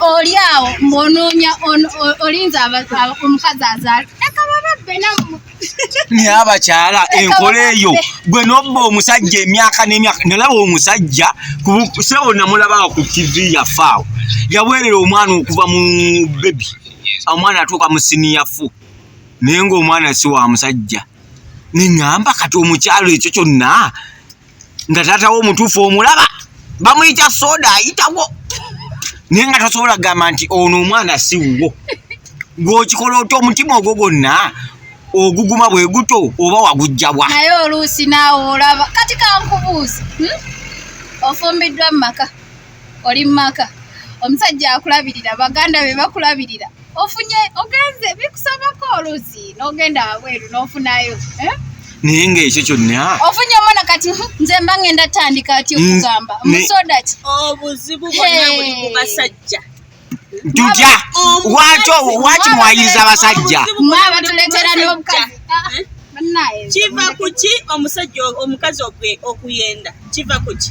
oli awo mbonoonya olinza omukazi azaala naye abakyala enkola eyo gwe nobba omusajja emyaka nemyaka nalaba omusajja sebo namulabaa ku tv yafaawo yaweerera omwana okuva mu bebi omwana atuuka mu siniya fu naye ngaomwana si wa musajja neŋamba kati omukyalo ekyo kyonna nga taata wo omutuufu omulaba bamuyita soda ayitawo naye nga tasobola kugamba nti ono omwana si wuwo gwokikola oti omutima ogwo gwonna oguguma bwe guto oba wagujjabwa naye oluusi naawe olaba kati kankubuuzi hmm? ofumbiddwa mu maka oli mu maka omusajja akulabirira baganda be bakulabirira ofunye ogenze bikusabako oluzi nogenda wabweru nofunayo eh? naye nga ekyo kyonna ofunye omwana kati nze mba ngenda tandika ati okugamba musoda ki obuzibu bwonna buli ku basajja tutya wakyo waki mwayiriza abasajja mwabatuletera nobukazi kiva kuki omusajja omukazi okuyenda kiva kuki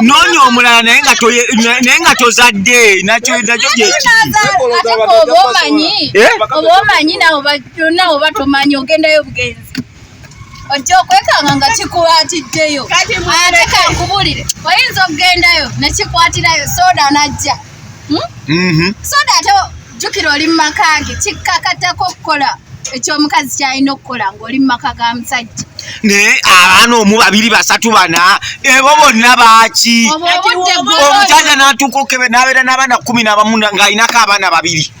noonya omulala naye nga tozadde nakyo nakyo gyekiobaomanyi eh? ogendayo bugenzi ojja okwekanga nga kikwatiddeyo ate kankubulire oyinza okugendayo nekikwatirayo soda najja hmm? mm-hmm. so that oh, jukira oli mu maka ge kikkakatako okukola ekyomukazi kyalina okukola ngaoli mu maka ga musajja naye abaana omu babiri basatu bana ebo bonna baaki omusajja natuuka okebe nabeera n'abaana kumi nabamu ng'alinako abaana babiri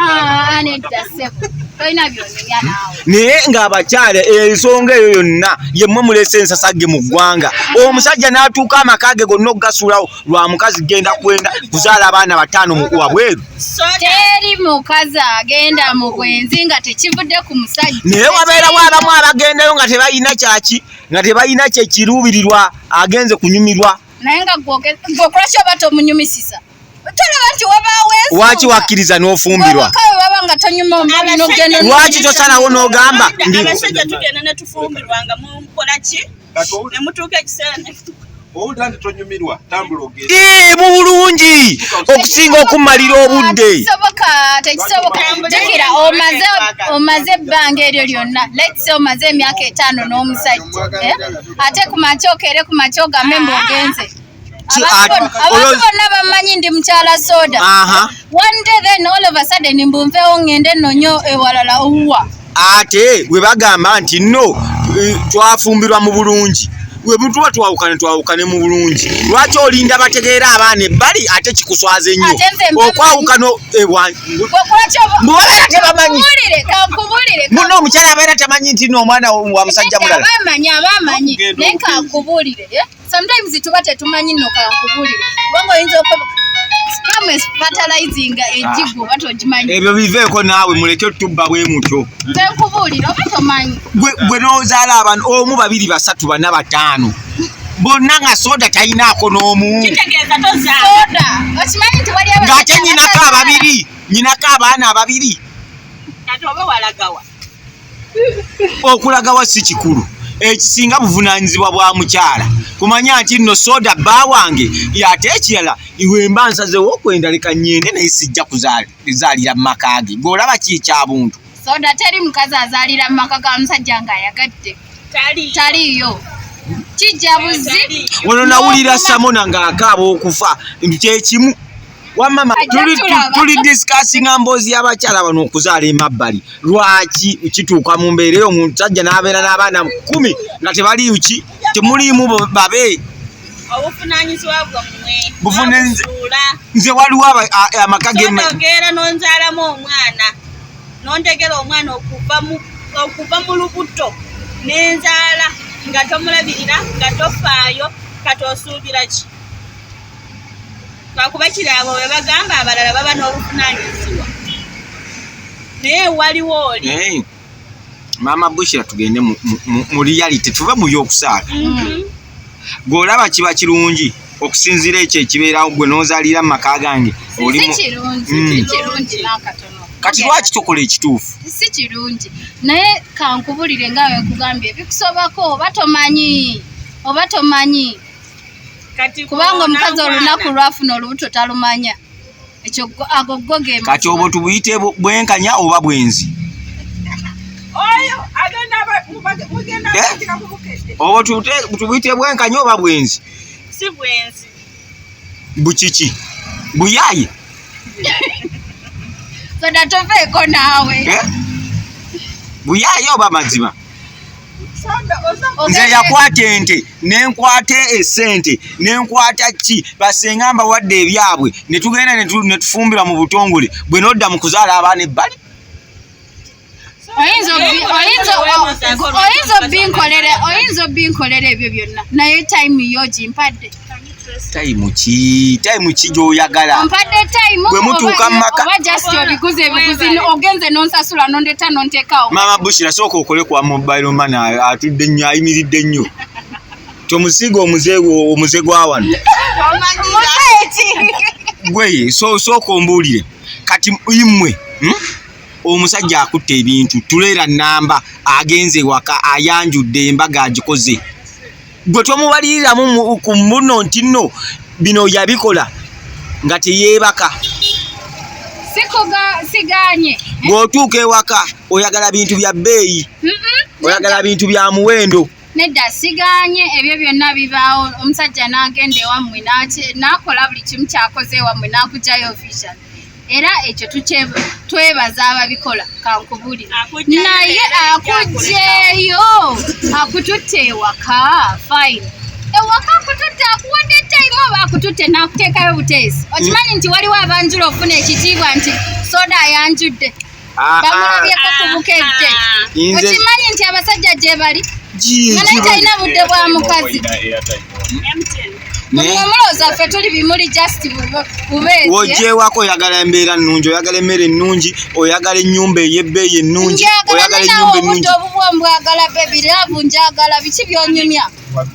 Ah, naye ng'abakyala ensonga eyo yonna yemmwe mulese ensasage mu ggwanga omusajja n'atuuka amaka ge gonna okugasuulawo lwa mukazi genda kwenda kuzaala abaana bataano wabweru teri mukazi agenda mu bwenzi nga tekivudde ku musajja naye wabeerawo abamu abagendayo nga tebalina kyaki nga tebalina kyekiruubirirwa agenze kunyumirwa naye nga gwokola kyoba tomunyumisiza lwaki wakkiriza n'ofumbirwa lwaki tosalawo n'ogamba ee mu bulungi okusinga okumalira obudde omaze ebbanga eryo lyonna lets omaze emyaka etaano n'omusajja eh? ate kumakya okeere kumakya ogambe mbu ogenze abantu bonna bammanyi ndi mukyala soda one day then all of a sudden mbunvewo ngende nonyo ewalala owuwa ate we bagamba nti no eh, twafumbirwa mu bulungi webutuba twawukane twawukane mu bulungi lwaki olinda bategeera abaana ebbali ate kikuswaza ennyo okwawukana ewamubabeera tebamanyi muno omukyala abeera tamanyi nti no omwana wa musajja mulala sometimes tuba tetumanyi no kankubulire kubanga oyinza okuba fertilizinga ejigo ah. batojimanyi ebyo biveeko naawe muleke tubba bwe mutyo nkubuulira oba tomanyi gwe n'ozaala abantu omu babiri basatu bana bataano bonna nga soda talinaako n'omu ng'ate nyinako ababiri nyinako abaana ababiri okulagawa si kikulu ekisinga buvunaanyizibwa bwa mukyala kumanya nti nno soda bba wange ate ekirala iwe mba nsazewo okwenda leka nyende naye sijja kuzaalira mu maka ge gweolaba ki ekyabuntu soda teri mukazi azaalira mu maka ga musajja ng'ayagadde taliiyo kijja buzi ono nawulira samona ng'akaaba okufa nti kyekimu wamama tuli discussinga mboozi y'abakyala bano okuzaala emabbali lwaki kituuka mu mbeera eyo omusajja n'abeera n'abaana kumi nga tebaliuki temuliimu babe obuvunanyizibwa bwammwe buvunaula nze waliwo amaka geogeera nonzaalamu omwana nontegera omwana okuva mu lubuto nenzaala nga tomulabirira nga tofaayo kati osuubira ki lwakuba kiri abo be bagamba abalala baba n'obuvunaanyizibwa naye waliwo oli maama bushira tugende mu reality tuve mu by'okusaala mhm. gweolaba kiba kirungi okusinziira ekyo ekibeerawo gwe n'ozaalira mu maka gange olimu kati lwaki tukola ekituufu si kirungi naye kankubulire nga wenkugambye bikusobako oba tomanyi oba tomanyi kubanga omukazi olunaku lwafuna olubuto talumanya ekyo ago go ge kati obwo tubuyite bwenkanya oba bwenzi eh? obwo tubuyite bwenkanya oba bwenzi bukiki buyaye soda toveeko naawe eh? buyaye oba mazima nze yakwata ente nenkwata esente nenkwata ki basenga mbawadde ebyabwe netugenda netufumbira mu butongole bwe nodda mu kuzaala abaana ebbali oyinza obinkolera ebyo byonna naye time yo gimpadde time ki time ki gyoyagala bwe mutuuka mu maka maama bushira sooka okole kwa mobile man atudde nnyo ayimiridde nnyo tomusiiga omuze omuze gwa wano gweye sooka ombuulire kati imwe hmm? omusajja akutte ebintu tuleera namba agenze waka ayanjudde embaga agikoze gwe tomubaliriramu ku muno nti nno bino yabikola nga teyeebaka siganye bw'otuuka ewaka oyagala bintu bya bbeeyi oyagala bintu bya muwendo nedda siganye ebyo byonna bibaawo omusajja n'agenda ewammwe n'akola buli kimu kyakoze ewammwe n'akujayo vision era ekyo twebaza ababikola kankubuli naye akugyeyo akututte ewaka fine ewaka akututte akuwadde time oba akututte nakuteekayo buteesi okimanyi nti waliwo abanjula okufuna ekitiibwa nti soda ayanjudde ah, bamulabyeko ku bukejje okimanyi nti abasajja gye bali nga naye talina budde bwa mukazi wojewako oyagala embeera ennungi oyagala emmere ennungi oyagala ennyumba ey'ebbeeyi ennungi oyagala ennyumba ennungi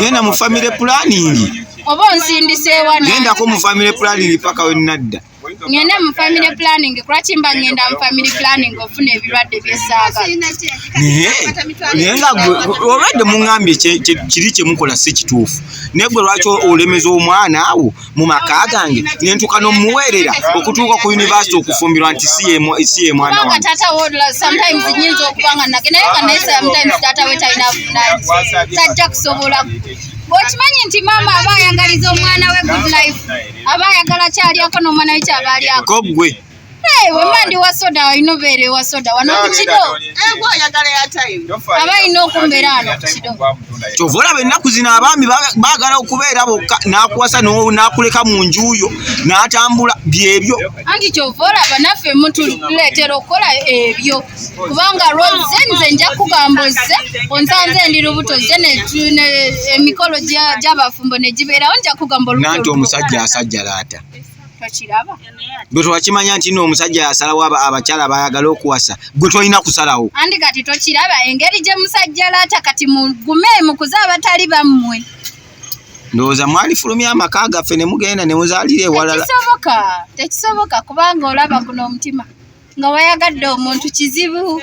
genda mu family planning oba onsindiseewa gendako mu family planning paka wenadda ngende mu family planning kulwaki mba ngenda mu family planning ofuna ebirwadde byesaaga naye nga olwadde muŋambye kiri kyemukola si kituufu naye gwe lwaki olemeza omwana awo mu maka gange ne ntuuka n'omuweerera okutuuka ku yunivasite okufumbirwa nti si ye mwana wange taata wo sometimes nyinza okuba nga nage naye nga naye sometimes taata we talina vunanyi tajja kusobola bwekimanyi nti maama aba ayagaliza omwana we good life aba ayagala kyalyako n'omwana we kyaba alyako gwe wasoda walina obeera ewa soda wano ku kido aba alina okumbeera wano ku kido kyova olaba ennaku zino abaami baagala okubeera bokka n'akuwasa n'akuleka mu njuuyo n'atambula byebyo anti kyova olaba naffe mutuleetera okukola ebyo kubanga lwoze nze nja kugamba ozze onsanze ndi lubuto zze emikolo gy'abafumbo ne gibeerawo nja kugamba nanti omusajja asajjalaata gwe twakimanya nti no omusajja yasalawo abakyala bayagala okuwasa gwe tolina kusalawo andi kati tokiraba engeri gye musajja laata kati mugume mukuze abatali bammwe ndowooza mwalifulumya amaka gaffe ne mugenda ne muzaalira ewalala tekisoboka tekisoboka kubanga olaba guno omutima nga wayagadde omuntu kizibu